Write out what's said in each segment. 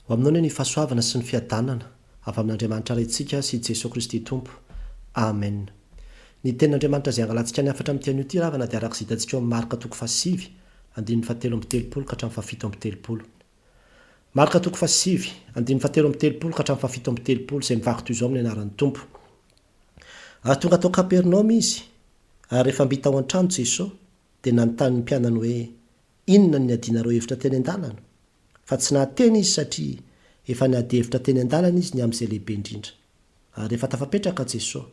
Ho aminao anie ny fahasoavana sy ny fiadanana avy amin'Andriamanitra Raintsika sy Jesoa Kristy Tompo. Amen. Ny Tenin'Andriamanitra izay angalantsika ny hafatra amin'ity anio ity ravana dia araka izay hitantsika eo amin'ny Marka toko fahasivy, andininy fahatelo amby telopolo ka hatramin'ny fahafito amby telopolo. Marka toko fahasivy, andininy fahatelo amby telopolo ka hatramin'ny fahafito amby telopolo, izay mivaky toy izao amin'ny anaran'ny Tompo. Ary tonga tao Kapernaomy Izy, ary rehefa mby tao an-trano Jesoa, dia nanontany ny mpianany hoe, Inona no niadianareo hevitra teny an-dalana? Fa tsy nahateny izy satria efa niady hevitra teny an-dalana izy ny amin'izay lehibe indrindra. Ary rehefa tafapetraka Jesoa,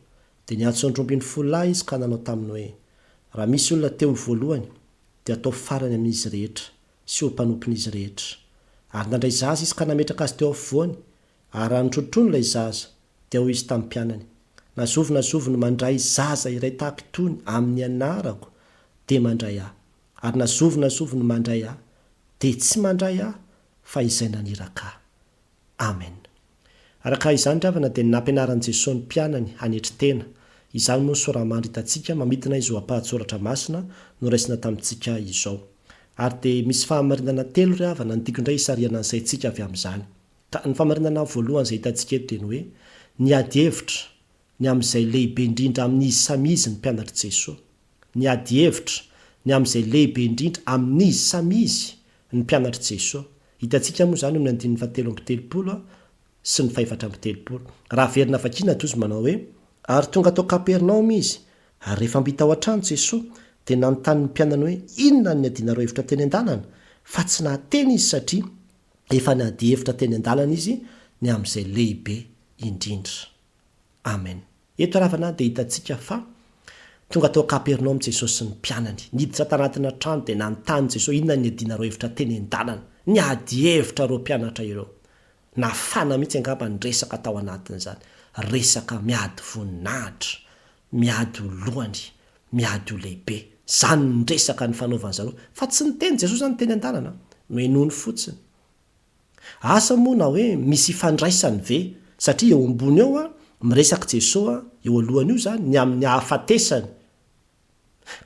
dia niantso andry omby ny folo lahy izy ka nanao taminy hoe, Raha misy olona te ho voalohany, dia ataovy farany amin'izy rehetra, sy ho mpanompon'izy rehetra. Ary nandray zaza izy ka nametraka azy teo afovoany, ary raha nitronotrono ilay zaza, dia hoy izy tamin'ny mpianany, Na zovy na zovy no mandray zaza iray tahaka itony amin'ny anarako, dia mandray ahy. Ary na zovy na zovy no mandray ahy dia tsy mandray ahy fa izay naniraka ahy. Amen. Araka izany ry havana dia nampianaran'i Jesoa ny mpianany hanetry tena, izany moa ny soramandry hitantsika mamintina izao ampahan-tsoratra masina noraisina tamintsika izao. Ary dia misy fahamarinana telo ry havana ntiako indray hisarihana ny saintsika avy amin'izany. Ka ny famarinana voalohany izay hitantsika eto dia ny hoe, ny ady hevitra ny amin'izay lehibe indrindra amin'izy samy izy ny mpianatr'i Jesoa. Ny adihevitra, ny amin'izay lehibe indrindra amin'izy samy izy ny mpianatr'i Jesoa. Hitantsika moa izany eo amin'ny andininy fahatelo amby telopolo sy ny fahefatra amby telopolo. Raha averina vakiana dia hozy manao hoe, Ary tonga tao Kapernaomy izy, ary rehefa mby tao an-trano Jesoa, dia nanontany ny mpianany hoe inona no niadianareo hevitra teny an-dalana, fa tsy nahateny izy satria efa niadihevitra teny an-dalana izy ny amin'izay lehibe indrindra. Amen. Eto Ravana dia hitantsika fa Tonga tao Kapernaomy Jesosy sy ny mpianany. Niditra tanatina trano dia nanontany Jesosy inona no niadianareo hevitra teny an-dalana. Niady hevitra ireo mpianatra ireo. Nafana mihitsy angamba ny resaka tao anatin'izany. Resaka miady voninahitra, miady ho lohany, miady ho lehibe. Izany ny resaka nifanaovan'izareo. Fa tsy niteny Jesosy izany teny an-dalana. Nohenoiny fotsiny. Asa moa na hoe misy ifandraisany ve satria eo ambony eo an miresaka Jeso an eo alohany io zany ny amin'ny ahafatesany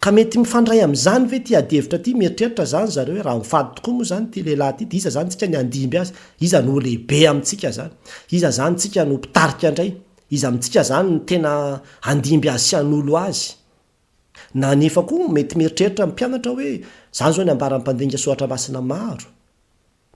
ka mety mifandray amin'izany ve ity adihevitra ity mieritreritra zany zareo hoe raha mifady tokoa moa zany ity lehilahy ity dia iza zany tsika ny handimby azy iza no ho lehibe amintsika zany iza zany tsika no mpitarika indray iza amintsika zany no tena handimby azy sy hanolo azy Na anefa koa mety mieritreritra ny mpianatra hoe, izany izao ny ambaran'ny mpandinika soratra masina maro.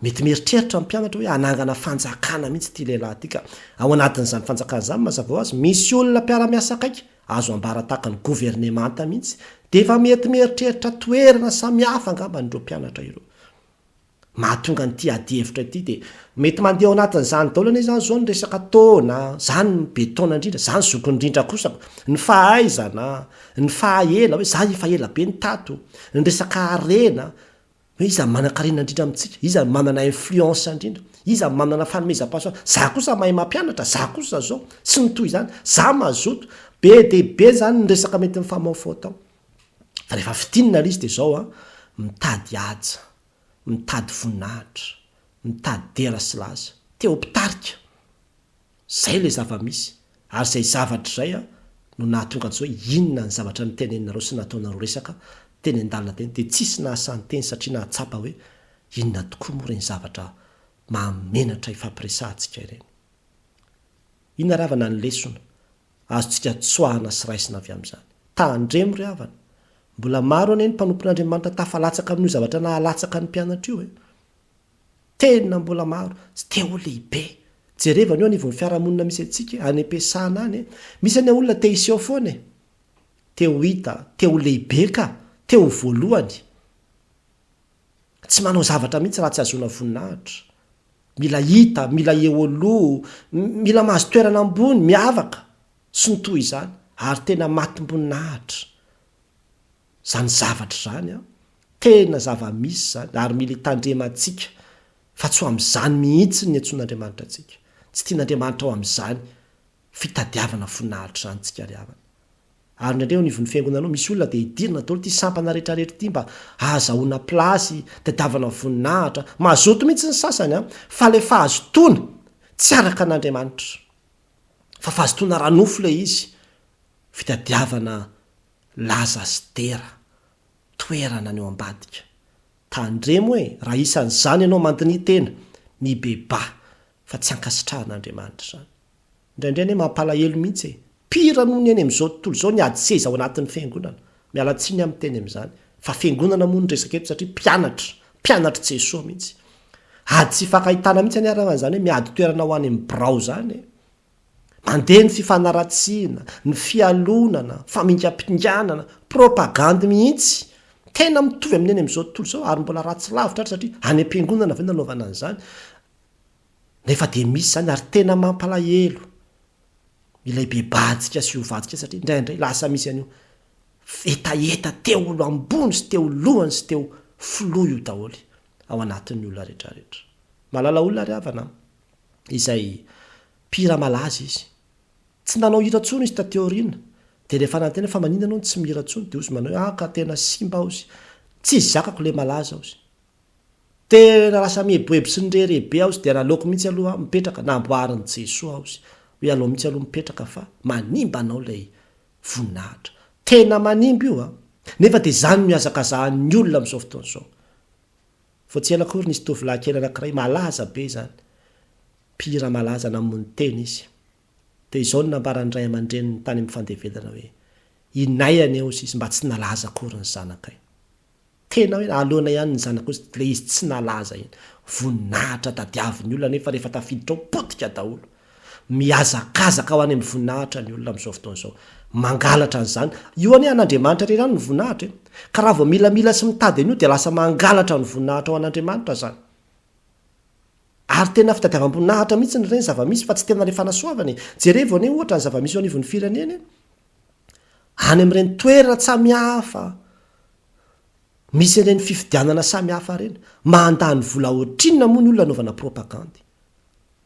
Mety mieritreritra ny mpianatra hoe hanangana fanjakana mihitsy ity lehilahy ity ka. Ao anatin'izany fanjakana izany mazava ho azy misy olona mpiara-miasa akaiky, azo ambara tahaka ny governemanta mihitsy. Dia efa mety mieritreritra toerana samihafa angambany ireo mpianatra ireo. mahatonga an'ity adihevitra ity dia mety mandeha ao anatin'izany daholo anie izany izao ny resaka taona, izany no be taona indrindra, izany zoky indrindra kosa, ny fahaizana, ny fahaela, hoe izaho efa ela be no tato, ny resaka harena, hoe iza no manan-karena indrindra amintsika, iza no manana influence indrindra, iza no manana fanomezam-pahasoavana, izaho kosa mahay mampianatra, izaho kosa izao, sy ny toy izany, izaho mazoto, be dia be izany ny resaka mety mifamaofao tao. Rehefa fintinina ilay izy dia izao an, mitady haja, mitady voninahitra, mitady dera sy laza. Te-ho mpitarika. Izay ilay zava-misy. Ary izay zavatra izay an, no nahatonga antsika hoe inona ny zavatra noteneninareo sy nataonareo resaka teny an-dalana teny dia tsisy nahasan-teny satria nahatsapa hoe inona tokoa moa ireny zavatra mahamenatra ifampiresahantsika ireny. Inona ravana ny lesona? Azontsika tsoahana sy raisina avy amin'izany. Tandremo ry havana! Mbola maro anie ny mpanompon'Andriamanitra tafalatsaka amin'io zavatra nahalatsaka ny mpianatra io e! Tena mbola maro! Tsy te ho lehibe! Jereva anio anivon'ny fiarahamonina misy antsika e, any am-piasana any e! Misy anie olona te hiseho foana e! Te ho hita, te ho lehibe ka! Te ho voalohany! Tsy manao zavatra mihitsy raha tsy ahazoana voninahitra. Mila hita, mila eo aloha, mila mahazo toerana ambony, miavaka, sy ny toy izany. Ary tena matim-boninahitra izany zavatra izany an! Tena zava-misy izany, ary mila hitandremantsika fa tsy ho amin'izany mihitsy no niantsoan'Andriamanitra antsika. Tsy tian'Andriamanitra ho amin'izany Fitadiavana voninahitr zany tsika ry havana. Ary indraindray eo anivon'ny fiangonana ao misy olona dia idirana daholo ity sampana rehetra rehetra ity mba ahazahoana place, tadiavana voninahitra. Mazoto mihitsy ny sasany an! Fa le fahazotoana tsy araka an'Andriamanitra. Fa fahazotoana ara nofo le izy. Fitadiavana laza sy dera, toerana any ao ambadika. Tandremo e! Raha isan'izany ianao mandiniha tena, mibebaha, fa tsy ankasitrahan'Andriamanitra izany. Indraindray anie mampalahelo mihitsy e! Pire noho ny eny amin'izao tontolo izao ny ady seza ao anatin'ny fiangonana. Miala tsiny aho miteny amin'izany. Fa fiangonana moa ny resaka eto satria mpianatra, mpianatr'i Jesoa mihitsy. Ady tsy hifankahitana mihitsy anie raha izany hoe miady toerana ho any amin'ny birao izany e! Mandeha ny fifanaratsiana, ny fialonana, famingampinganana, propagandy mihitsy. Tena mitovy amin'ny eny amin'izao tontolo izao ary mbola ratsy lavitra ary satria any am-piangonana ve nanaovana an'izany? Nefa dia misy izany ary tena mampalahelo ilay be bajika sy ovajika satria indraindray lasa misy an'io hetaheta teo lo ambony sy teo lohany sy teo filoha io daholo ao anatin'ny olona retraretra. Malala olona ry havana an! Izay mpihira malaza izy. Tsy nanao hira intsony izy taty aoriana. Dia rehefa nanontaniana fa maninona ianao no tsy mihira intsony dia hozy manao hoe ah ka tena simba hozy. Tsy zakako ilay malaza hozy. Tena lasa mieboebo sy nirere be aho tsy dia naleoko mihitsy aloha aho mipetraka, namboarin'i Jesoa aho sy hoe alao mihitsy aloha mipetraka fa manimba anao ilay voninahitra. Tena manimba io a! Nefa dia izany no ihazakazahan'ny olona amin'izao fotoana izao. Vao tsy ela akory nisy tovolahy kely anankiray malaza be izany, mpihira malaza namono tena izy. Dia izao no nambaran'ny ray aman-dreniny tany amin'ny fandevelana hoe, Inay anie hoy izy mba tsy nalaza akory ny zanakay. Tena hoe aloana ihany ny zanako hozy ilay izy tsy nalaza iny. Voninahitra tadiavin'ny olona nefa rehefa tafiditra ao potika daholo. Mihazakazaka ho any amin'ny voninahitra ny olona amin'izao fotoana izao. Mangalatra an'izany. Io anie an'Andriamanitra irery ihany ny voninahitra e. Ka raha vao milamila sy mitady an'io dia lasa mangalatra ny voninahitra ao an'Andriamanitra izany. Ary tena fitadiavam-boninahitra mihitsy ny ireny zava-misy fa tsy tena ilay fanasoavana e. Jerevo anie ohatra ny zava-misy eo anivon'ny firenena e. any amin'ireny toerana tsamihafa misy ireny fifidianana samihafa ireny. Mandany vola ohatrinona moa ny olona anaovana propagandy?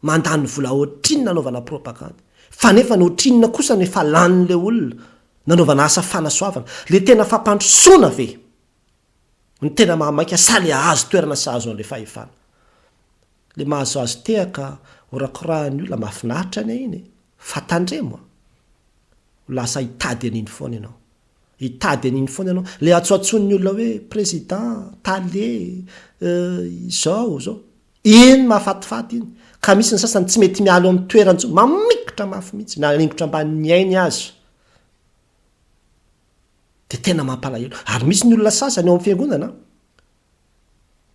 Mandany vola ohatrinona anaovana propagandy? Fa nefa ny ohatrinona kosa no efa lanin'ilay olona nanaovana asa fanasoavana? Ilay tena fampandrosoana ve? Ny tena mahamaika sa le ahazo toerana sy ahazo an'le fahefana? Le mahazoazo tehaka horakorahan'ny olona mahafinaritra anie iny e! Fa tandremo a! Ho lasa hitady an'iny foana ianao. Hitady an'iny foana ianao. Le antsoantsoin'ny olona hoe président, tale, izao, izao. Iny mahafatifaty iny. Ka misy ny sasany tsy mety miala eo amin'ny toerany intsony. Mamikitra mafy mihitsy. Mialingotra ambanin'ny ainy aza. dia tena mampalahelo, ary misy ny olona sasany ao amin'ny fiangonana an,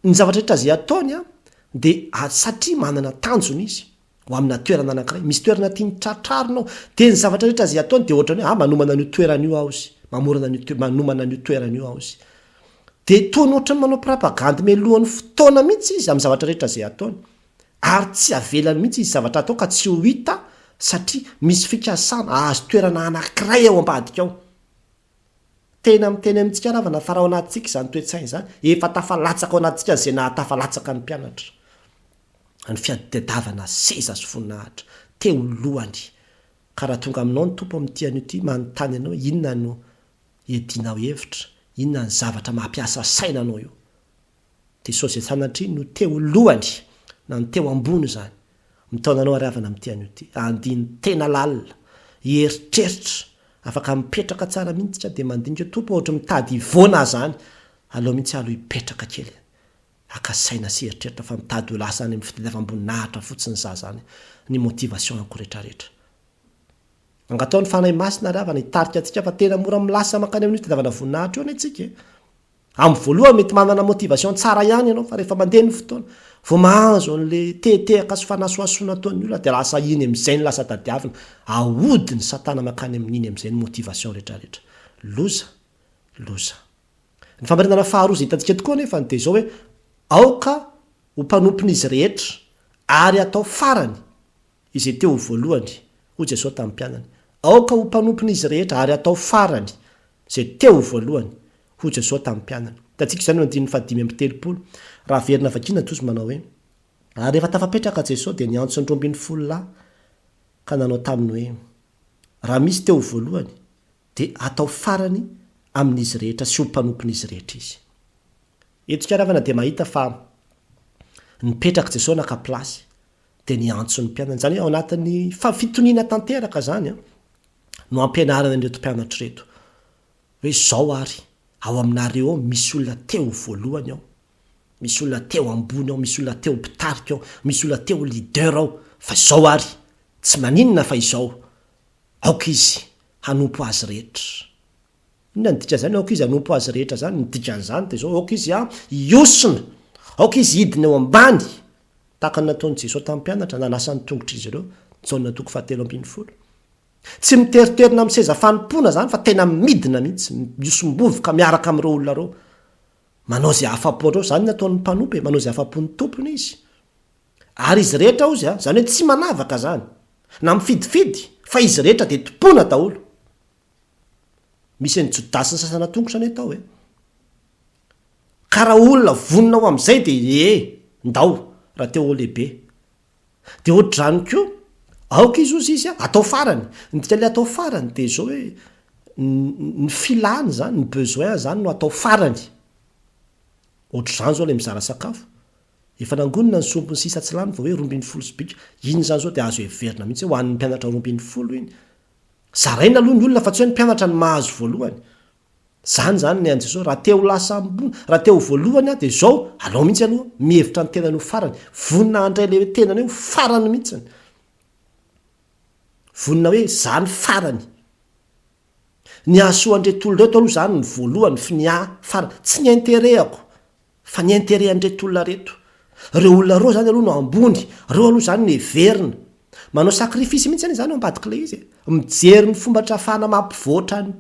ny zavatra rehetra izay ataony an, dia satria manana tanjona izy ho amina toerana anankiray, misy toerana tiany tratrarina ao, dia ny zavatra rehetra izay ataony dia ohatran'ny hoe ah manomana an'io toerana io aho izy, mamorona an'io toerana, manomana an'io toerana io aho izy, dia toa ny ohatran'ny manao prapagandy melohan'ny fotoana mihitsy izy amin'ny zavatra rehetra izay ataony, ary tsy avela mihitsy izy zavatra hatao ka tsy ho hita satria misy fikasana hahazo toerana anankiray ao ambadika ao. Tena miteny amintsika ravana fa raha ao anatintsika izany toe-tsaina izany, efa tafalatsaka ao anatintsika izay nahatafalatsaka ny mpianatra. Ny fiadidiadavana seza sy voninahitra, teo lohany. Ka raha tonga aminao ny Tompo amin'ity anio ity, manontany anao hoe inona no iadianao hevitra, inona ny zavatra mampiasa saina anao eo. Dia Soja Sanatria no teo lohany na ny teo ambony izany. Mitaona anao ary havana amin'ity anio ity. Andiny tena lalina. Hieritreritra. Afaka mipetraka tsara mihitsy ka dia mandinika Tompo aho ohatry mitady hivoana aho izany. Aleo mihitsy aho aloha hipetraka kely. Haka saina sy hieritreritra fa mitady ho lasa any amin'ny fitadiavam-boninahitra fotsiny za izany. Ny motivation-ko rehetrarehetra. Angataho ny Fanahy Masina ary havana hitarika antsika fa tena mora milasa mankany amin'io fitadiavana voninahitra io anie tsika e. Amin'ny voalohany mety manana motivation tsara ihany ianao fa rehefa mandeha ny fotoana, vao mahazo an'le tehetehaka sy fanasohasoana ataon'ny olona dia lasa iny amin'izay no lasa tadiavina, ahodin'i satana mankany amin'iny amin'izay ny motivation retraretra. Loza! Loza! Ny famarinana faharoa izay hitantsika tokoa anefany dia izao hoe, aoka ho mpanompon'izy rehetra ary hatao farany izay te ho voalohany, hoy Jesosy tamin'ny mpianany. Aoka ho mpanompon'izy rehetra ary hatao farany izay te ho voalohany, Hoy Jesoa tamin'ny mpianany. Hitantsika izany eo amin'ny andininy fahadimy amby telopolo. Raha averina vakiana toa izy manao hoe. Ary rehefa tafapetraka Jesoa dia niantso ny roa ambin'ny folo lahy ka nanao taminy hoe, Raha misy te ho voalohany dia hatao farany amin'izy rehetra sy ho mpanompon'izy rehetra izy. Eto isika ravana dia mahita fa nipetraka Jesoa naka place dia niantso ny mpianany. Izany hoe ao anatin'ny fitoniana tanteraka izany no ampianarana an'ireto mpianatra ireto. Hoe zao ary, ao aminareo ao misy olona te ho voalohany ao, misy olona te ho ambony ao, misy olona te ho mpitarika ao, misy olona te ho leader ao, fa izao ary, tsy maninona fa izao, aoka izy hanompo azy rehetra. Inona no dikan'izany aoka izy hanompo azy rehetra zany? Ny dikan'izany dia izao, aoka izy hiosona, aoka izy hidina eo ambany, tahaka ny nataon'i Jesoa tamin'ny mpianatra, nanasa ny tongotr'izy ireo, Jaona toko fahatelo ambin'ny folo. Tsy miteriterina amin'ny seza fanompoana izany fa tena midina mihitsy, mihosom-bovoka miaraka amin'ireo olona ireo. Manao izay afa-po an'ireo, izany ny ataon'ny mpanompo e, manao izay afa-pon'ny tompony izy. Ary izy rehetra hozy, izany hoe tsy manavaka izany, na mifidifidy, fa izy rehetra dia tompoina daholo. Misy an'i Jodasy ny sasana tongotra anie tao e. Ka raha olona vonona ho amin'izay dia ee, ndao, raha te ho lehibe, Dia hoatr'izany koa, aoka izy ho zizy an, atao farany. Ny dikan'ilay atao farany dia izao hoe, ny filany izany, ny besoin izany no atao farany. Hoatr'izany izao ilay mizara sakafo. Efa nangonina ny sombiny sisa tsy lany vao hoe roa ambin'ny folo sy bika. Iny izany izao dia azo heverina mihitsy hoe ho an'ny mpianatra roa ambin'ny folo iny. Zaraina aloha ny olona fa tsy hoe ny mpianatra no mahazo voalohany. Zany zany ny an'i Jesosy, raha te ho lasa ambony, raha te ho voalohany aho dia zao, alao mihitsy aloha mihevitra ny tenany ho farany, vonona handray le hoe tenany hoe ho farany mihitsiny, vonona hoe za ny farany, ny hahasoa an'ireto olona ireto aloha za no voalohany f'ny ahy farany, tsy ny interehako, Fa ny interet an'ireto olona reto. Reo olona reo zany aloha no ambony, reo aloha zany no heverina. Manao sacrifice mihitsy anie zany eo ambadika ilay izy e. Mijery ny fomba trafana mampivoatra ny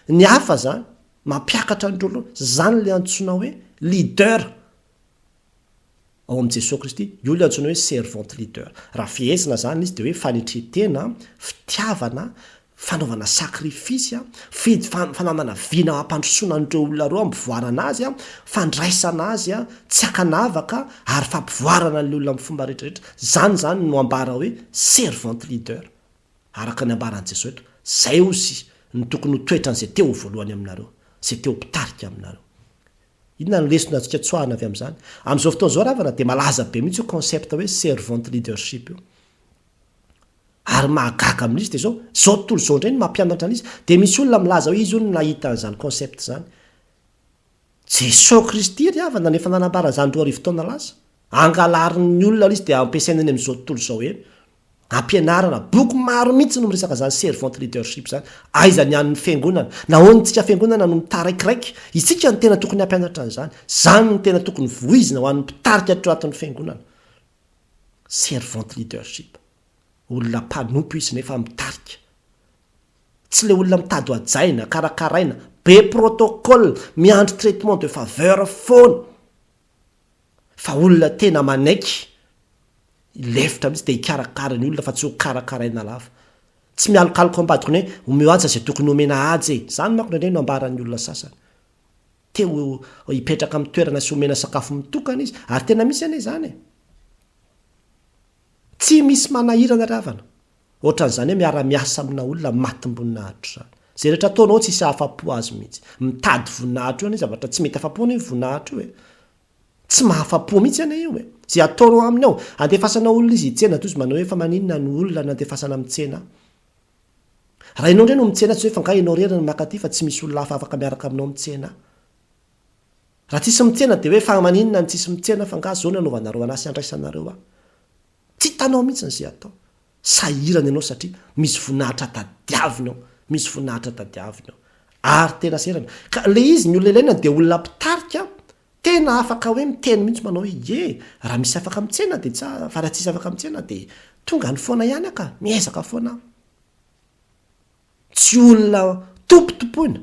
ny hafa zany, mampiakatra an'ireo loha. Zany le antsoina hoe leader ao amin'i Jesoa Kristy. Io le antsoina hoe servant leader. Raha fehezina zany izy de hoe fanetren-tena, fitiavana, fanaovana sacrifice, fidy fa fananana vina hampandrosoana an'ireo olona ireo hampivoarana azy, fandraisana azy, tsy ankanavaka ary fampivoarana an'ilay olona amin'ny fomba rehetra rehetra, izany izany no ambara hoe servant leader, araka ny ambaran'i Jesoa eto, izay ozy no tokony ho toetran'izay te ho voalohany aminareo, izay te ho mpitarika aminareo. Inona ny lesona azontsika tsoahina avy amin'izany? Amin'izao fotoana izao ravana dia malaza be mihitsy io concept hoe servant leadership io. Ary mahagaga amin'izy dia izao, izao tontolo izao indray no mampianatra an'izy. Dia misy olona milaza hoe izy hono no nahita an'izany concept izany. Jesoa Kristy ry havana no efa nanambara an'izany roa arivo taona lasa. Angalarin'ny olona ilay izy dia ampiasaina eny amin'izao tontolo izao eny. Ampianarana. Boky maro mihitsy no miresaka an'izany servant leadership izany. Aiza ny an'ny Fiangonana? Nahoana isika Fiangonana no mitaraikiraika? Isika no tena tokony hampianatra an'izany. Izany no tena tokony voizina ho an'ny mpitarika ato anatin'ny Fiangonana. Servant leadership. Olona mpanompo izy nefa mitarika. Tsy ilay olona mitady hohajaina, karakaraina, be protocole, miandry traitement de faveur foana. Fa olona tena manaiky hilefitra mihitsy dia hikarakara ny olona fa tsy hokarakaraina lava. Tsy mialokaloka ao ambadikony hoe omeo aja izay tokony homena aja e! Izany manko indraindray no ambaran'ny olona sasany. te ho hipetraka amin'ny toerana sy omena sakafo mitokana izy, ary tena misy anie izany e! Tsy misy manahirana ry havana, ohatran'izany hoe miara-miasa amina olona matim-boninahitro izany. Izay rehetra ataonao tsy hisy hahafa-po azy mihitsy. Mitady voninahitro eo anie zavatra tsy mety afa-po anie io voninahitro io e! Tsy mahafa-po mihitsy anie io e! Izay ataonao aminy ao, andefasana olona izy hitsena toa izy manao hoe fa maninona ny olona no andefasana mitsena ahy? Raha ianao indray no mitsena tsy hoe fa angaha ianao irery no maka aty fa tsy misy olona hafa afaka miaraka aminao mitsena. Raha tsisy mitsena dia hoe fa maninona no tsisy mitsena fa angaha zao no anaovanareo an'asa iandraisanareo aho. Tsy hitanao mihitsy ny ze atao. Sahirana ianao satria misy voninahitra tadiaviny ao. Misy voninahitra tadiaviny ao. Ary tena sahirana. Ka le izy ny olona ilaina dia olona mpitarika Tena afaka hoe miteny mihitsy manao hoe ie, raha misy afaka mitsena dia tsara, fa raha tsisy afaka mitsena dia tonga any foana ihany aho ka, miezaka foana aho. Tsy olona tompotompoina,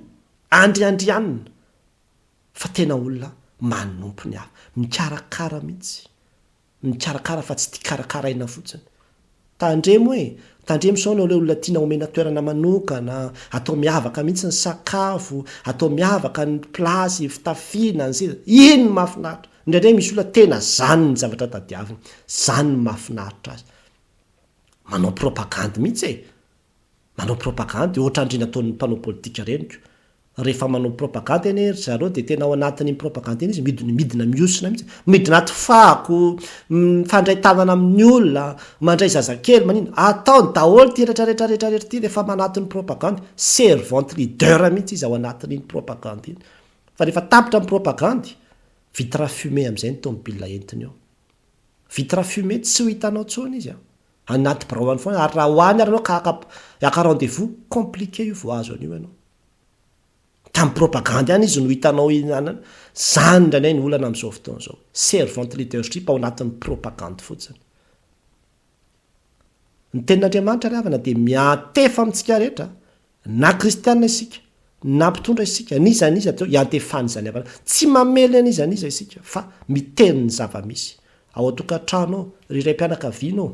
andriandrianina, fa tena olona manompo ny hafa, mikarakara mihitsy. mikarakara fa tsy tia karakaraina fotsiny. Tandremo e! Tandremo sao ianao ilay olona tiana omena toerana manokana, atao miavaka mihitsy ny sakafo, atao miavaka ny place fitafiana, ny seza. Iny no mahafinaritra. Indraindray misy olona tena zany ny zavatra tadiaviny, zany no mahafinaritra azy. Manao propagandy mihitsy e! Manao propagandy ohatran'ireny ataon'ny mpanao politika reniko. Rehefa manao propagandy anie ry zareo dia tena ao anatin'iny propagandy iny izy midina midina mihosona mihitsy. Midina aty fako, mifandray tanana amin'ny olona, mandray zazakely manina. Ataony daholo ity rehetra rehetra rehetra rehetra ity rehefa manaton'ny propagandy. Servante leader mihitsy izy ao anatin'iny propagandy iny. Fa rehefa tapitra ny propagandy, vitre fumée amin'izay ny tomobile entiny eo. Vitre fumée tsy ho hitanao intsony izy an! Anaty birao any foana ary raha ho any ary ianao ka haka haka rendez-vous, compliqué io vao azo an'io ianao. Tamin'ny propagandy any izy no hitanao hihinanana, izany indray indray no olana amin'izao fotoana izao. Servant leadership ao anatin'ny propagandy fotsiny. Ny tenin'Andriamanitra ry havana dia miantefa amintsika rehetra Na kristiana isika, na mpitondra isika, n'iza n'iza dia iantefan'izany havanana. Tsy mamely an'iza n'iza isika, fa miteny ny zava-misy. Ao an-tokantrano ao, ry raim-pianakaviana ô!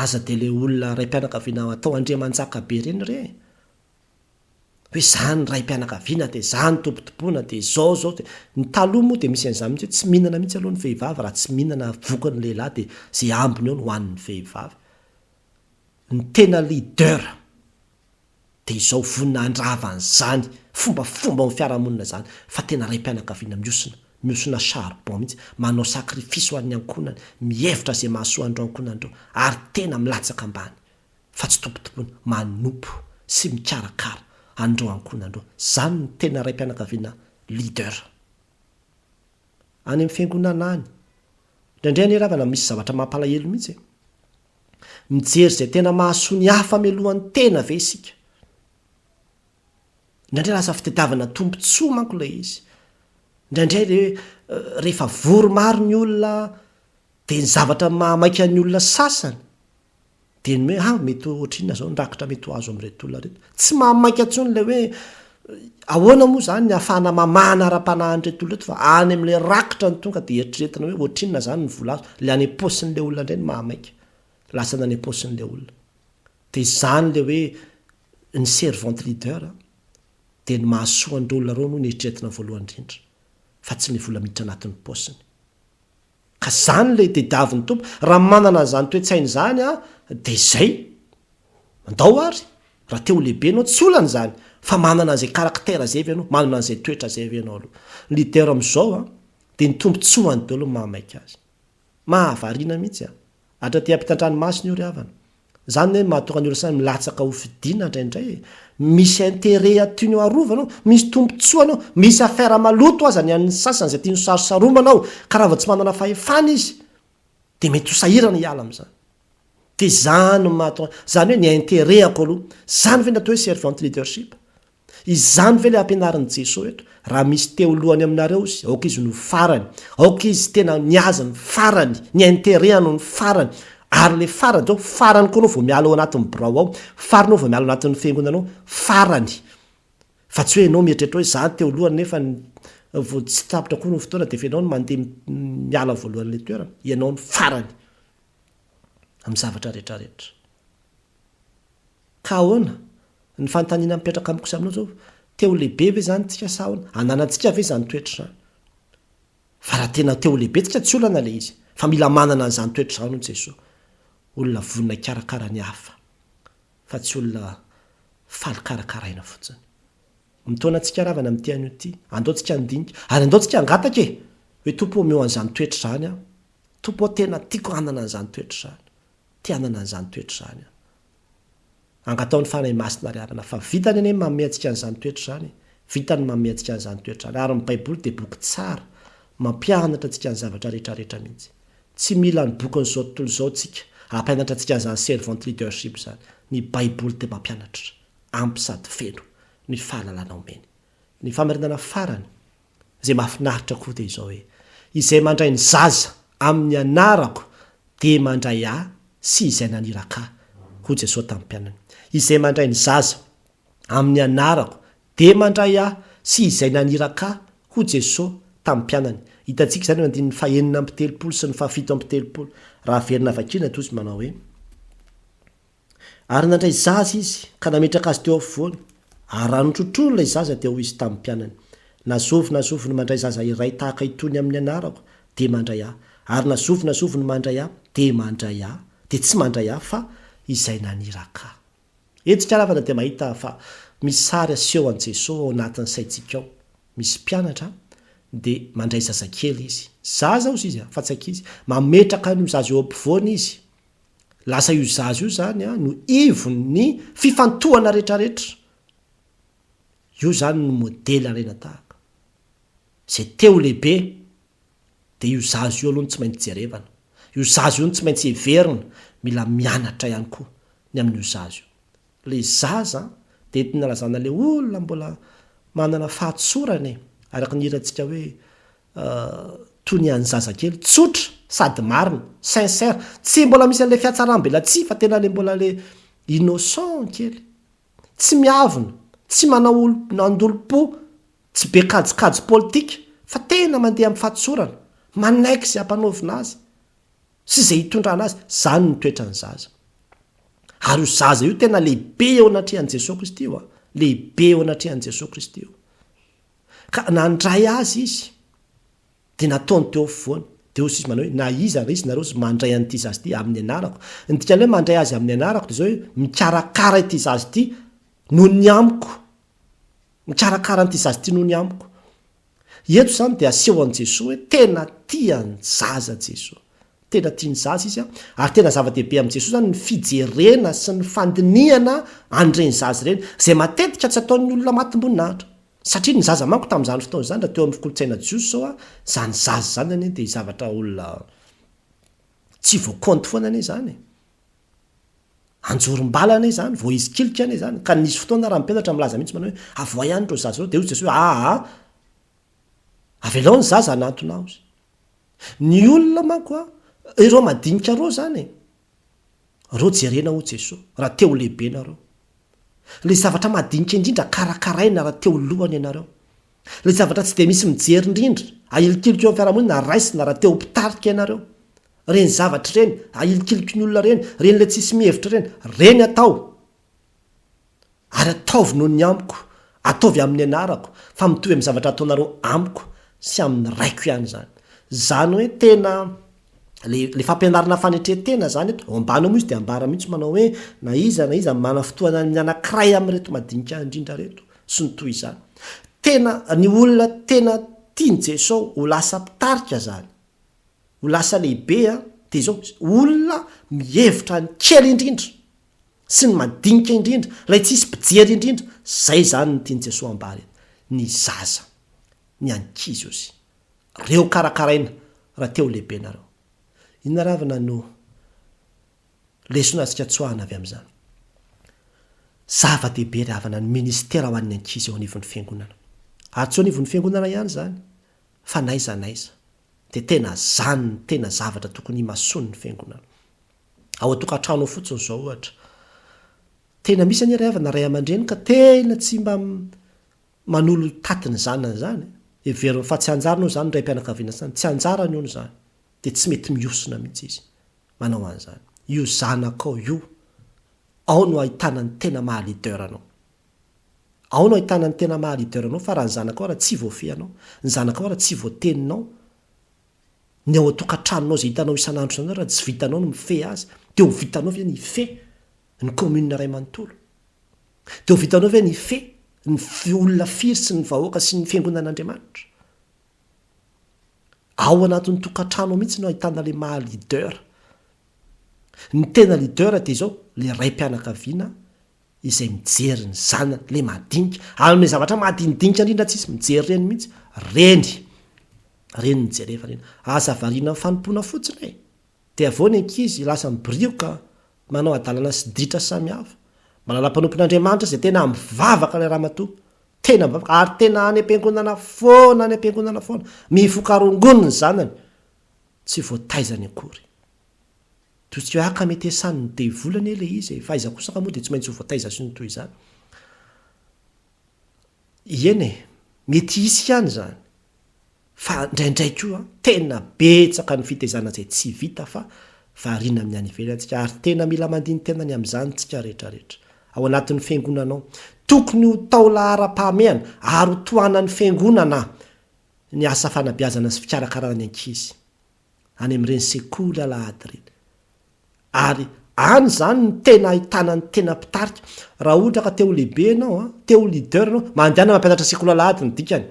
Aza dia ilay olona raim-pianakaviana atao andriamanjaka be ireny re e! Hoe izany raim-pianakaviana dia izany tobitoboina dia izao izao dia, ny taloha moa dia misy an'izany mihitsy hoe tsy mihinana mihitsy aloha ny vehivavy raha tsy mihinana vokany ny lehilahy dia izay ambiny eo no hohanin'ny vehivavy. ny tena leader dia izao vonona handrava an'izany fombafomba ao amin'ny fiarahamonina izany fa tena raim-pianakaviana mihosina, mihosina charbon mihitsy, manao sacrifice ho an'ny ankohonany, mihevitra izay mahasoa an'ireo ankohonany ireo ary tena milatsaka ambany fa tsy tompotompoina, manompo sy mikarakara an'ireo ankohonany ireo. Izany no tena raim-pianakaviana leader. any amin'ny fiangonana any. Indraindray anie ravana misy zavatra mampalahelo mihitsy e! Mijery izay tena mahasoa ny hafa mialoha ny tena ve isika? Indraindray lasa fitadiavana tombontsoa manko ilay izy. Indraindray re, rehefa vory maro ny olona dia ny zavatra mahamaika ny olona sasany, Dia ny hoe ah mety ohatrinona izao ny rakitra mety ho azo amin'ireto olona ireto. Tsy mahamaika intsony ilay hoe ahoana moa izany ny hahafahana mamahana ara-panahy an'ireto olona ireto fa any amin'ilay rakitra no tonga dia eritreretina hoe ohatrinona izany ny vola azo. Ilay any am-paosin'ilay olona indray no mahamaika. Lasana any am-paosin'ilay olona. Dia izany ilay hoe ny servant leader dia ny mahasoa an'ireo olona ireo no eritreretina voalohany indrindra fa tsy ny vola miditra anatin'ny paosiny. Ka izany ilay tediavin'ny Tompo. Raha manana an'izany toe-tsaina izany aho, dia izay. Andao àry, raha te ho lehibe ianao, tsy olana izany. Fa manana an'izay karaktera izay ve ianao? Manana an'izay toetra izay ve ianao aloha? Ny leader amin'izao dia ny tombontsoany daholo no mahamaika azy. Mahavariana mihitsy an! Andry aty ampitantranomasina io ry havana. Zany ne mahatonga ny olosay milatsaka ho fidiana ndraindray e! Misy interet a tianao arovana ao, misy tombotsoany ao, misy affaire maloto aza ny an'ny sasany izay tiany ho sarosaromana ao ka raha vao tsy manana fahefana izy dia mety ho sahirana hiala amin'izany. Dia zany no mahatonga, zany hoe ny interet-ako aloha. Zany ve ny atao hoe servant leadership? Izany ve ilay ampianarin'i Jesoa eto, raha misy teo lohany aminareo izy, aoka izy no farany, aoka izy tena ny azy ny farany, ny interehany ny farany, ary ilay farany dia hoe farany koa anao vao miala ao anatin'ny birao ao, farany anao vao miala ao anatin'ny fiangonana ao, farany. Fa tsy hoe ianao mieritreritra hoe izaho no teo lohany nefa vao tsy tapitra koa ny fotoana dia efa ianao no mandeha miala voalohan'ilay toerana, ianao no farany amin'ny zavatra rehetra rehetra. Ka ahoana? Ny fanontaniana mipetraka amiko sy aminao izao, te ho lehibe ve izany tsika sa ahoana? Ananantsika ve izany toetra izany? Fa raha tena te ho lehibe tsika tsy olana ilay izy, fa mila manana an'izany toetra izany hono Jesoa. Olona vonona hikarakara ny hafa, fa tsy olona faly karakaraina fotsiny. Mitaona antsika ravana amin'ity anio ity. Andao tsika handinika, ary andao tsika hangataka e! hoe Tompo ô omeo an'izany toetra izany aho. Tompo ô tena tiako hanana an'izany toetra izany. Te hanana an'izany toetra izany aho. Angataho ny Fanahy Masina ry arina fa vitany anie ny manome antsika an'izany toetra izany e! Vitany ny manome antsika an'izany toetra izany ary ny Baiboly dia boky tsara mampianatra antsika ny zavatra rehetra rehetra mihitsy. Tsy mila ny bokin'izao tontolo izao tsika hampianatra antsika an'izany servant leadership izany. Ny Baiboly dia mampianatra. Ampy sady feno ny fahalalana omeny. Ny famarinana farany. Izay mahafinaritra koa dia izao hoe, izay mandray ny zaza amin'ny anarako dia mandray ahy sy izay naniraka ahy, hoy Jesoa tamin'ny mpianany. Izay mandray ny zaza amin'ny anarako dia mandray ahy sy izay naniraka ahy, hoy Jesoa tamin'ny mpianany. Hitantsika izany eo amin'ny andininy fahenina amby telopolo sy ny fahafito amby telopolo. Raha averina vakiana dia hoy izy manao hoe. Ary nandray zaza izy, ka nametraka azy teo afovoany, ary raha notrotroiny ilay zaza dia hoy izy tamin'ny mpianany, Na zovy na zovy no mandray zaza iray tahaka itony amin'ny anarako, dia mandray ahy, ary na zovy na zovy no mandray ahy, dia mandray ahy, dia tsy mandray ahy, fa izay naniraka ahy. Hetsika ravana dia mahita fa misy sary aseho an'i Jesoa ao anatin'ny saintsika ao. Misy mpianatra, dia mandray zazakely izy. Zaza hozy izy, fa tsy ankizy. Mametraka an'io zaza eo ampovoany izy, Lasa io zaza io zany no ivon ny fifantohana retraretra. Io zany no modely alaina tahaka. Zay te ho lehibe dia io zaza io aloha no tsy maintsy jerevana. Io zaza io no tsy maintsy heverina. Mila mianatra ihany koa ny amin'io zaza io. le zaza de tina lazana le olona mbola manana fahatsorana e araka ny hirantsika hoe toy ny an'ny zazakely tsotra sady marina sincère tsy mbola misy anle fiatsaram-belatsihy fa tena le mbola le innocent kely tsy miavona tsy manao olo nandolom-po tsy be kajikajy politika fa tena mandeha amin'ny fahatsorana manaiky ze hampanaovina azy sy izay hitondrana azy, izany ny toetran'ny zaza. Ary io zaza io tena lehibe eo anatrehan'i Jesoa Kristy io a! lehibe eo anatrehan'i Jesoa Kristy io. Ka nandray azy izy, dia nataony teo afovoany, dia hozy izy manao hoe, na iza ary izy nareo izy mandray an'ity zaza ity amin'ny anarako. Ny dikan'ny hoe mandray azy amin'ny anarako dia izao hoe mikarakara ity zaza ity noho ny amiko. Mikarakara an'ity zaza ity noho ny amiko. Eto izany dia asehon'i Jesoa hoe tena tia ny zaza Jesoa. Tena tia ny zaza Izy ary tena zava-dehibe amin'i Jesoa izany ny fijerena sy ny fandinihana an'ireny zaza ireny, izay matetika tsy ataon'ny olona matim-boninahitra. Satria ny zaza manko tamin'izany fotoana izany, raha teo amin'ny kolontsaina jiosy izao, izany zaza izany anie dia zavatra olona tsy voakonty foana anie izany e! Anjorom-bala anie izany, voaizikilika anie izany, ka nisy fotoana ary mpelatra milaza mihitsy manao hoe, avoay any ireo zaza ireo, dia hoy Jesoa hoe, aa, avelao ny zaza hanantona Ahy. Ny olona manko an, ireo madinika ireo izany e, ireo jerena hoy Jesoa, raha te ho lehibe ianareo. Ilay zavatra madinika indrindra karakaraina raha te ho lohany ianareo. Ilay zavatra tsy dia misy mijery indrindra, ahilikiliko eo amin'ny fiarahamonina raisina raha te ho mpitarika ianareo. Ireny zavatra ireny ahilikiliko ny olona ireny, ireny ilay tsisy mihevitra ireny, ireny atao! Ary ataovy noho ny amiko, ataovy amin'ny anarako, fa mitovy amin'ny zavatra ataonareo amiko sy amin'ny Raiko ihany izany. Izany hoe tena le le fampianarana fanetren-tena zany eto ao ambany ao moa izy dia ambara mihitsy manao hoe na iza na iza manana fotoana ny anankiray amin'ireto madinika indrindra reto sy ny toy izany tena ny olona tena tian'i Jesosy ho lasa mpitarika zany ho lasa lehibe a dia izao olona mihevitra ny kely indrindra sy ny madinika indrindra ilay tsisy mpijery indrindra zay zany ny tian'i Jesosy ambara eto ny zaza ny ankizy aussi reo karakaraina ra te ho lehibe nareo. Inona ravina no lesona azontsika tsoahina avy amin'izany? Zava-dehibe ry havana ny ministera ho an'ny ankizy eo anivon'ny fiangonana. Ary tsy eo anivon'ny fiangonana ihany izany fa n'aiza n'aiza. Dia tena izany no tena zavatra tokony himasoan'ny fiangonana. Ao an-tokantrano ao fotsiny izao ohatra. Tena misy anie ry havana ray aman-dreny ka tena tsy mba Manolo taty ny zanany izany. Heveriny fa tsy anjarany hono izany ny raim-pianakaviana izany. Tsy anjarany hono izany. Dia tsy mety mihosona mihitsy izy manao an'izany. Io zanakao io, ao no ahitana ny tena maha leader anao. Ao no ahitana ny tena maha leader anao fa raha ny zanakao ary tsy voafehinao, ny zanakao ary tsy voateninao, ny ao an-tokantranonao izay hitanao isan'andro isan'andro ary tsy vitanao ny mifehy azy, dia ho vitanao ve ny hifehy ny commune iray manontolo? Dia ho vitanao ve ny fe ny olona firy sy ny vahoaka sy ny fiangonan'Andriamanitra? Ao anatin'ny tokantrano ao mihitsy no ahitana ilay maha leader. Ny tena leader dia izao, ilay raim-pianakaviana izay mijery ny zanany, ilay madinika. Amin'ilay zavatra madinidinika indrindra tsisy mijery reny mihitsy, reny, reny no jerevana iny. Aza variana amin'ny fanompoana fotsiny e! Dia avy eo ny ankizy lasa mibirioka manao hadalana sy ditra samihafa. Manana mpanompon'Andriamanitra izay tena mivavaka ilay ramatoa. Tena mivavaka ary tena any am-piangonana foana any am-piangonana foana. Mifoka rongony ny zanany. Tsy voataizany akory. Toy tsy hoe ah ka mety esan'ny devoly anie ilay izy e! Fa aiza kosa ka moa dia tsy maintsy ho voataiza sy ny toy izany. Ieny e! Mety hisy ihany izany. Fa ndraindray koa tena betsaka ny fitezana izay tsy vita fa variana amin'ny any ivelany tsika ary tena mila mandini-tena ny amin'izany tsika rehetra rehetra ao anatin'ny fiangonana ao. Tokony ho taolaharam-pahamehana ary ho tohanan'ny fiangonana ny asa fanabeazana sy fikarakarana ny ankizy any amin'ireny sekoly alahady ireny ary any izany no tena ahitana ny tena mpitarika. Raha ohatra ka te ho lehibe ianao, te ho leader ianao, mandehana mampianatra sekoly alahady ny dikany.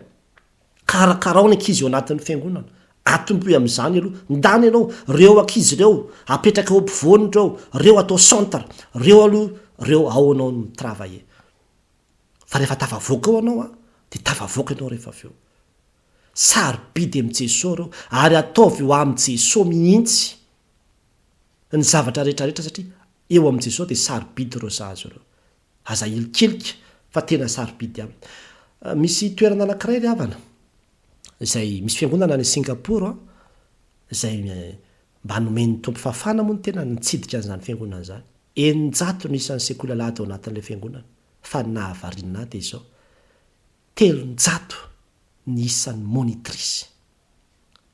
Karakarao ny ankizy eo anatin'ny fiangonana. Atombohy amin'izany aloha. Ndany ianao, reo ankizy reo apetraka eo ampovoany reo, reo atao centre, reo aloha reo ao anao mi travailler. Fa rehefa tafavoaka ao anao an, dia tafavoaka ianao rehefa avy eo. Sarobidy amin'i Jesoa reo, ary ataovy ho amin'i Jesoa mihitsy ny zavatra rehetra rehetra satria eo amin'i Jesoa dia sarobidy reo zaza reo. Aza hilikilika fa tena sarobidy an! Misy toerana anankiray ry havana, izay misy fiangonana any Singapour an, izay mba nomen'ny Tompo fahafahana moa ny tenany nitsidika an'izany fiangonana izany. Eninjato no isan'ny sekoly alahady ao anatin'ilay fiangonana, fa ny nahavariana ahy dia izao, telonjato ny isan'ny monitrice.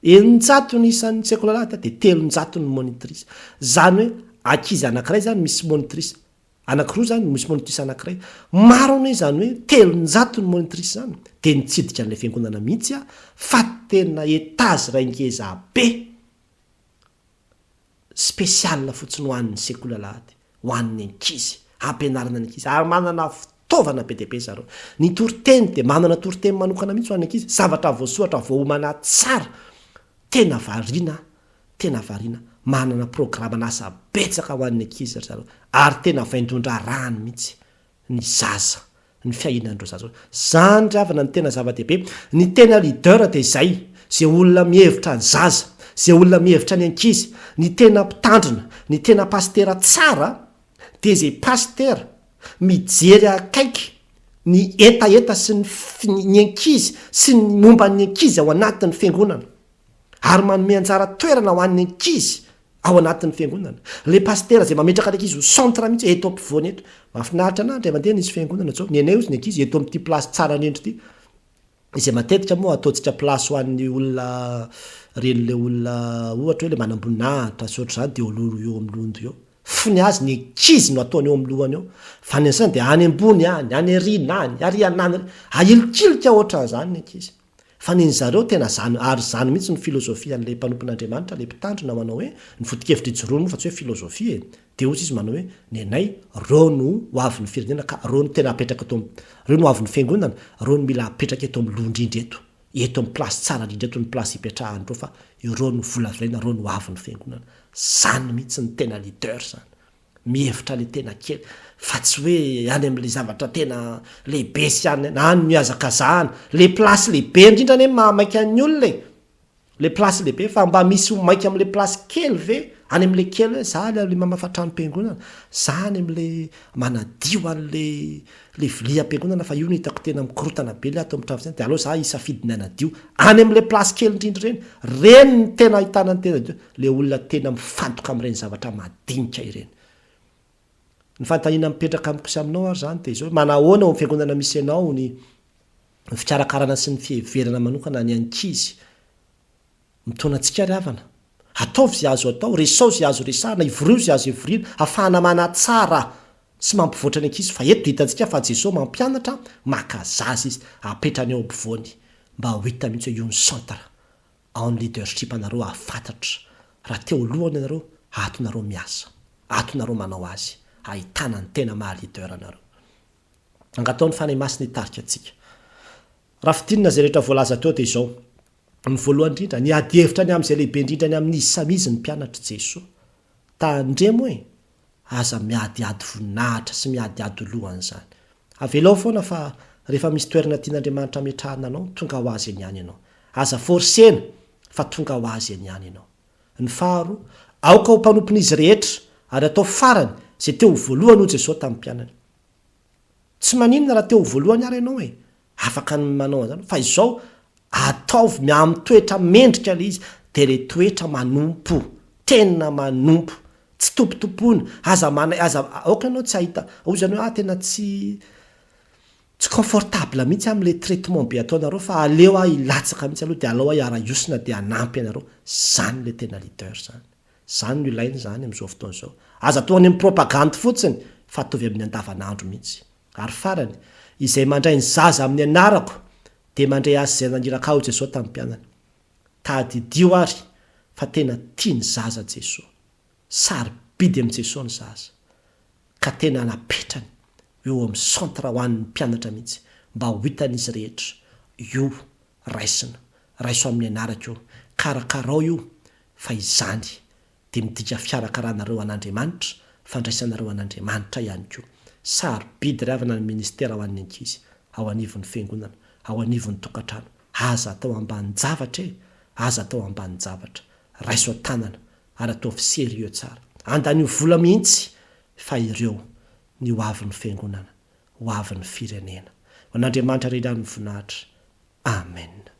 Eninjato ny isan'ny sekoly alahady dia telonjato ny monitrice. Izany hoe ankizy anankiray izany misy monitrice, Anakiroa izany no misy monitrice anakiray. Maro anie izany hoe telonjato ny monitrice izany dia nitsidika an'ilay fiangonana mihitsy aho fa tena étage iray ngeza be spécial fotsiny ho an'ny sekoly alahady ho an'ny ankizy, ampianarana ny ankizy ary manana Taovana be dia be zareo. Ny toriteny dia manana toriteny manokana mihitsy ho an'ny ankizy, zavatra voasoratra voaomana tsara. Tena variana aho, tena variana. Manana programan'asa betsaka ho an'ny ankizy ry zareo ary tena vaindon-draharahany mihitsy ny zaza, ny fiainan'ireo zaza ireo. Izany ry havana no tena zava-dehibe. Ny tena leader dia izay, izay olona mihevitra ny zaza, izay olona mihevitra ny ankizy, ny tena mpitandrina, ny tena pasitera tsara, dia izay pasitera mijery akaiky ny hetaheta sy ny ny ankizy sy ny momba ny ankizy ao anatin'ny fiangonana ary manome anjara toerana ho an'ny ankizy ao anatin'ny fiangonana ilay pasitera izay mametraka ny ankizy ho centre mihitsy eto ampovoany eto mahafinaritra anah indray mandeha nisy fiangonana zao ny anay ozy ny ankizy eto amin'ity place tsara indrindra ity izay matetika moa ataontsika place ho an'ny olona ren'ilay olona ohatra hoe ilay manamboninahitra sy ohatr'izany dia oloana eo amin'ny lohany eo fony azy ny ankizy no ataony eo amin'ny lohany eo fa ny an'izany dia any ambony any any aoriana any ary anany ahilikilika ohatran'izany ny ankizy fa ny ny zareo tena izany ary izany mihitsy ny filozofia an'ilay mpanompon'Andriamanitra ilay mpitandrina manao hoe ny foto-kevitra ijoroany moa fa tsy hoe filozofia e Dia hoy izy manao hoe, Ny anay, reo no ho avin'ny firenena ka reo no tena hapetraka eto am, reo no ho avin'ny fiangonana, reo no mila hapetraka eto am loha indrindra eto, eto am place tsara indrindra eto ny place ipetrahan'ireo fa ireo no volavolaina reo no ho avin'ny fiangonana. Zany mihitsy ny tena leader zany. Mihevitra le tena kely fa tsy hoe any am le zavatra tena lehibe sy any, any no iazakazahana. Le place lehibe indrindra anie maha maika ny olona e! Le place lehibe fa mba misy ho maika amle place kely ve any amle kely hoe za le mamafa tranom-piangonana za any amle manadio anle le vilia am-piangonana fa io no hitako tena mikorotana be le ato amtrano zay de aleo za hisafidy ny hanadio any amle place kely indrindra ireny reny no tena ahitana ny tena le olona tena mifantoka amreny zavatra madinika ireny Ny fanontaniana mipetraka amiko sy aminao ary izany dia izao hoe, manahoana ao amin'ny fiangonana misy anao ny fikarakarana sy ny fiheverana manokana ny ankizy? Mitaona antsika ry havana. Ataovy izay azo atao, resao izay azo resahina, ivoriho izay azo ivoriana, afahana manatsara sy mampivoatra ny ankizy, fa eto dia hitantsika fa Jesoa mampianatra, maka zaza Izy, apetrany eo ampovoany, mba ho hita mihitsy hoe io ny centre. En leadership anareo hahafantatra raha teo alohany anareo ato nareo miasa, ato nareo manao azy ahitana ny tena maha leader anareo. Angatao ny Fanahy Masina hitarika antsika. Raha fidinina izay rehetra voalaza teo dia izao, ny voalohany indrindra, ny ady hevitra ny amin'izay lehibe indrindra ny amin'izy samy izy ny mpianatr'i Jesoa. Tandremo e! Aza miadiady voninahitra sy miadiady ho loha an'izany. Avelao foana fa rehefa misy toerana tian'Andriamanitra hametrahana anao, tonga ho azy eny ihany ianao. Aza forcena fa tonga ho azy eny ihany ianao. Ny faharoa, aoka ho mpanompon'izy rehetra ary atao farany izay te ho voalohany hoy Jesosy tamin'ny mpianany. Tsy maninona raha te ho voalohany ary ianao e! afaka ny manao an'izany fa izao ataovy mi amin'ny toetra mendrika ilay izy dia ilay toetra manompo tena manompo tsy tompotompoina aza manay aza aoka ianao tsy hahita hoy izany hoe ah tena tsy tsy confortable mihitsy amin'ilay traitement be ataonareo fa aleo aho hilatsaka mihitsy aloha dia alao aho hiara-hiosina dia hanampy anareo izany ilay tena leader izany izany no ilaina izany amin'izao fotoana izao aza atao any amin'ny propagande fotsiny fa ataovy amin'ny andavanandro mihitsy Ary farany, izay mandray ny zaza amin'ny anarako dia mandray azy izay naniraka ahy, hoy Jesoa tamin'ny mpianany. Tadidio ary fa tena tia ny zaza Jesoa. Sarobidy amin'i Jesoa ny zaza, ka tena napetrany eo amin'ny centre ho an'ny mpianatra mihitsy mba ho hitan'izy rehetra, Io, raisina, raiso amin'ny anarako io, karakarao io fa izany dia midika fiarakarahanareo an'Andriamanitra, fandraisanareo an'Andriamanitra ihany koa. Sarobidy ry havana ny ministera ho an'ny ankizy, ao anivon'ny fiangonana, ao anivon'ny tokantrano. Aza atao ambanin-javatra e! Aza atao ambanin-javatra. Raiso an-tanana ary ataovy serieux tsara. Andanio vola mihitsy fa ireo ny ho avin'ny fiangonana, ho avin'ny firenena. Ho an'Andriamanitra Ray Rano ny voninahitra. Amen.